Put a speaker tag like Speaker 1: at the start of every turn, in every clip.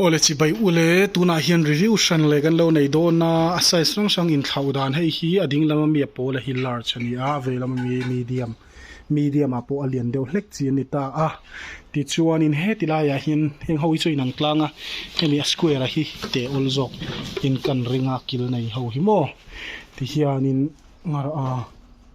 Speaker 1: Aw le chibai u le, tunah hian review hran leh kan lo nei dawn a, a size hrang hrang inthlauh dan hei hi a ding lama mi a pawl a hi large a ni a, a vei lama mi hi medium, medium ah pawh a lian deuh hlek chi a ni ta a, tichuanin heti laiah hian heng ho hi chu inang tlang a, hemi a square a hi teh awl zawk in kan ring a kil nei ho hi maw ti hianin ngarh a.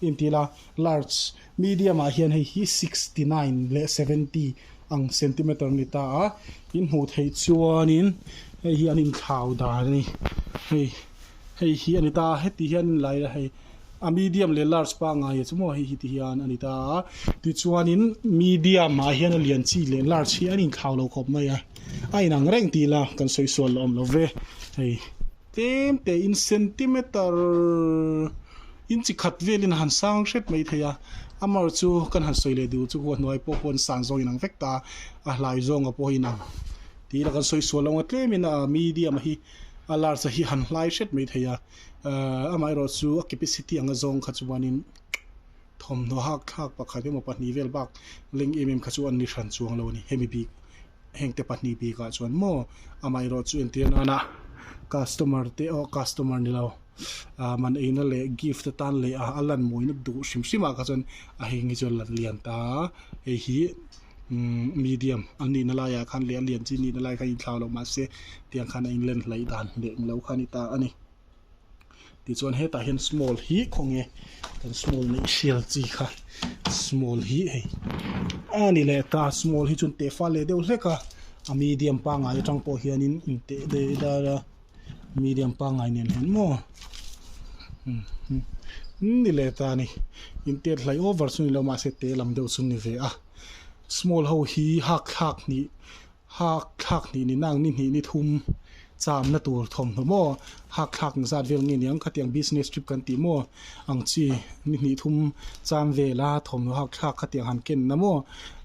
Speaker 1: Hnim ti ila, large, medium ah hian hei hi sixty nine leh seventy ang centimeter a ni ta a, in hmuh theih chuanin hei hi an inthlau dan a ni, hei hei hi a ni ta a, heti hian in la ila hei a medium leh large pangngai leh chu maw hei hi ti hian a ni ta a, tichuanin medium ah hian a lian chi leh large hi an inthlau lo khawp mai a, a inang reng ti ila kan sawi sual awm lo ve, hei. Tlem te in centimeter inchi khat velin han sang hret mai thei a, a mar chu kan han sawi leh duh chu khuwa hnuai pawh pawh an san zawng inang vek ta, a hlai zawnga pawh inang tih ila kan sawi sual lo nga tlem in a medium hi a large a hi han hlai hret mai thei a, ahh amah erawh chu a capacity anga zawng kha chuanin thawmhnaw hak thlak pakhat emaw pahnih vel bak leng em em kha chu an ni hran chuang lo a ni hemi bik. hengte pahnih bik ah chuan maw amaherawh chu entir nan a customer te awh customer ni lo ah man eina leh gift atan leh ah a lan mawina duh hrim hrim ah kha chuan a heng hi chu a lan lian ta a hei hi umm medium an nihna lai ah khan leh a lian chin nihna lai ah khan a inthlau loh mahse tiang khan a inlen hlaih dan leh ni lo kha a ni ta a ni. tichuan hetah hian small hi khaw nge kan small nih hrial chi kha small hi hei a ni leh ta small hi chuan tehfal leh deuh hlek a a medium pangngai atang pawh hianin in teh leh dar a medium pangngai nen hian maw ni leh ta a ni in tet hlai over chu ni lo mahse teh lam deuh chu a ni ve a small ho hi hak thlak hnih Hak thlak hnih ni nang ni hnih ni thum chamna tur thawmhnaw maw? Hak thlak eng zat vel nge niang khatiang business trip kan tih maw? Ang chi ni hnih thum cham vela thawmhnaw hak thlak khatiang han kenna maw?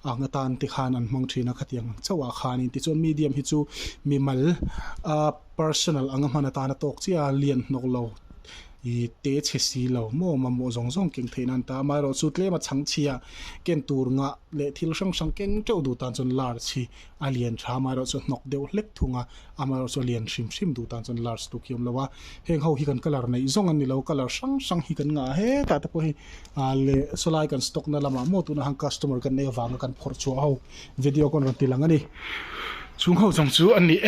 Speaker 1: Ang atan te khan an hmang thin a khatiang ang chauh ah khanin. Tichuan medium hi chu mimal a personal anga hman atan a tawk chiah a lian hnawk lo. ih te chhe si lo maw mamawh zawng zawng keng theih nan ta amaherawh chu tlema chhang chhia ken tur ngah leh thil hrang hrang keng teuh duh tan chuan large hi a lian tha amaherawh chu hnawk deuh hlek thung a amaherawh chu a lian hrim hrim duh tan chuan large tu khi awm lo a heng ho hi kan colour neih zawng an ni lo colour hrang hrang hi kan ngah a hetah te pawh hi ah le sawlai kan stock na lamah maw tunah han customer kan nei avanga kan phawrh chhuah ho video kan rawn ti lang a ni chung ho zawng chu a ni e.